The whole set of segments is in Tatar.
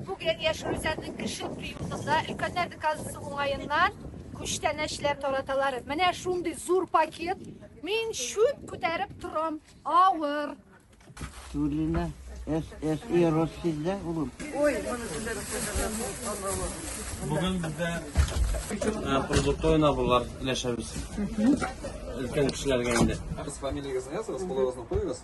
Бүген Яшь Рүзәннең кеше приютында өлкәннәр казасы уңаеннан күчтәнәчләр тараталар. Менә шундый зур пакет. Мин шүт күтәреп торам. Авыр. Тулина, ССИ Россизда улым. Ой, Бүген бездә продуктовый наборлар өләшәбез. Өлкән кешеләргә инде. Ә без фамилиягезне языгыз, кулыгызны куегыз.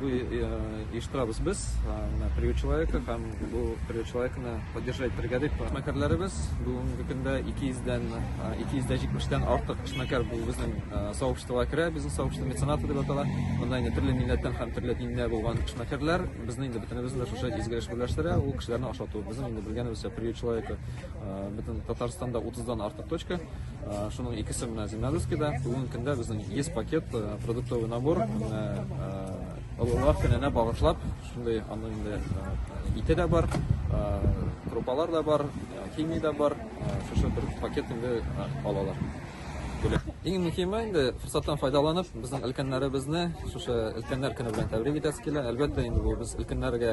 Бу оештырабыз без, менә приют человека һәм бу приют человекны поддержать итәргә дип. Эшмәкәрләребез бүгенге көндә 200 дән 270 дән артык эшмәкәр бу безнең сообществога керә, бизнес сообщество меценаты дип атала. Монда инде төрле милләттән һәм төрле диндә булган эшмәкәрләр безне инде бөтенебезне дә шушы изге эш берләштерә, ул кешеләрне ашату. Безнең инде белгәнебезчә приют человека бөтен Татарстанда 30 дан артык точка. Шуның икесе менә Зимнадыскида. Бүгенге көндә безнең 100 пакет продуктовый набор олылар көненә багышлап шундый аны инде ите дә бар, крупалар да бар, химия дә бар. Шушы бер пакет инде алалар. Бүләк. Иң мөһиме инде форсаттан файдаланып, безнең өлкәннәребезне шушы өлкәннәр көне белән тәбрик итәсе килә. Әлбәттә, инде бу без өлкәннәргә